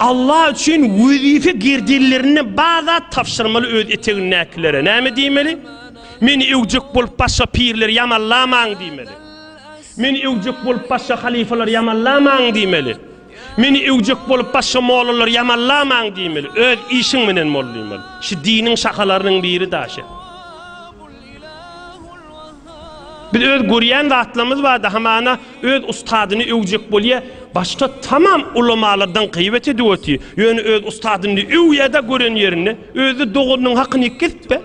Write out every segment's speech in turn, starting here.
Allah üçin wezife gerdellerinden bar zat tabşyrmaly öz etegindäkilere näme diýmeli? Meni öwjek bolup başga pirleri ýamanlamaň diýmeli. Meni öwjek bolup başga halyfalary ýamanlamaň diýmeli. Meni öwjek bolup başga mollalary ýamanlamaň diýmeli. Öz işiň menen bol diýmeli. Şu diniň şahalarynyň biri daşy. Biz öz görýän zatlarymyz barada hamana öz ustadyny öwjek bolýa, başga tamam ulamalardan gyýbat edip otyr, ýöne öz ustadyny öwýädä gören ýerinde, özde doganynyň hakyny kesipä,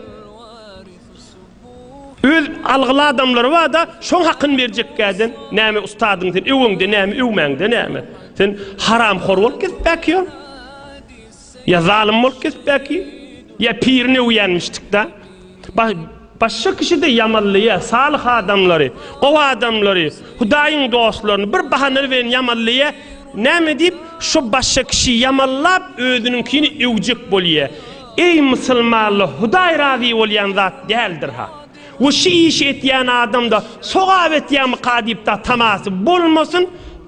öz algyly adamlary barada şoň hakyny berjekkäden näme ustadyňy sen öweňde näme öwmäňde näme sen haramhor bolup kesipä ki ol. Ya zalym bolup kesip belki, ya pirini öwýänmişdik da. Başga kişi de ýamanlaýa, salyh adamlary, gowy adamlary, Hudaýyň dostlaryny bir bahana bilen ýamanlaýa. Näme diýip, şo başga kişi ýamanlap özüniňkini öwjek bolýa. Eý musulmanlar, Hudaý razy bolýan zat däldir-ha. We şu işi etýän adamda sogap etýärmika diýip-de tamasy bolmasyn,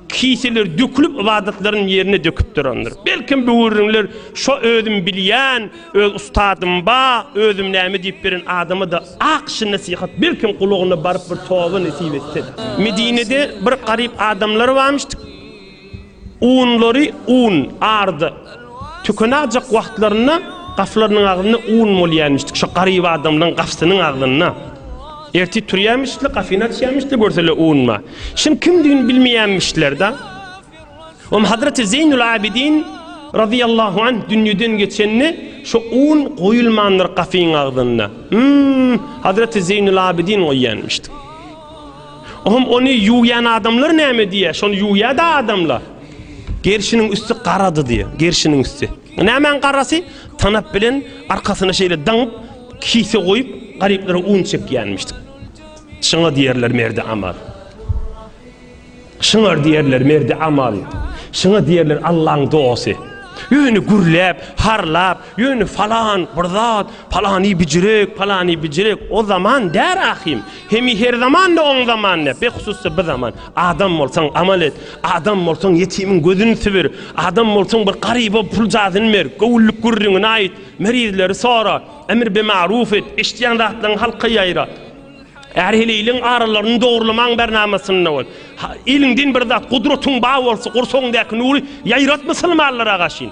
kiseler dökülip ybadatlaryny ýerine döküp durandyr. Belkem bu gürrüňler şo özüm bilýän, öz ustadym ba, özüm näme diýip beren adama-da ak şy nesihat belkem gulagyna baryp bir toba nesip etse-de. Medinede bir garyp adamlar barmyşdyk. Unlary un, arda, tükenäjek wagtlarynda gaflarynyň agzynda un bolýarmyşdy, şo garyp adamlaryň gafsynyň agzynda. Ertir turýarmyşdylar, gafyny açýarmyşdylar, görseler un bar. Şunuň kimdigini bilmeýärmişler-de. Onuň Hazreti Zeýnul Abidin razyýallahu anh dünýeden geçende şo un goýulmandyr gafyň agzynda. Hum, Hazreti Zeýnul Abidin goýýarmyşdy. Ohum ony ýuwýan adamlar näme diýýär? Şony ýuwýar-da adamlar. Gerşiniň üsti garady diýýär. Gerşiniň üsti. Nämäň garasy? Tanap bilen arkasyna şeýle daňyp, kise goýup, garyplara un çekýänmiş. Şyňa diýerler merdi amal. Şyňar diýerler merdi amal. Şyňa diýerler Allaň dogasy. Öýüni gürläp, harlap, Ýöne falan bir zat, palany bijirek, palany bijirek, o zaman däl ahim. Hemi her zaman-da oň zamany, behusus-da bi zaman. Adam bolsaň amal et, adam bolsaň ýetimiň gözüni sübür, adam bolsaň bir garyba pul jadyny ber, göwünlik gürrüňini aýt, merizleri sora, emr bi maruf et, eşidýän zatlaryňy halka ýaýrat. Är-heleýliň aralaryny dogrulamagyň bernamasynda bol. Eliňden bir zat, gudratyň bar bolsa, gursagyňdaky nury ýaýrat musulmanlara gaşyn.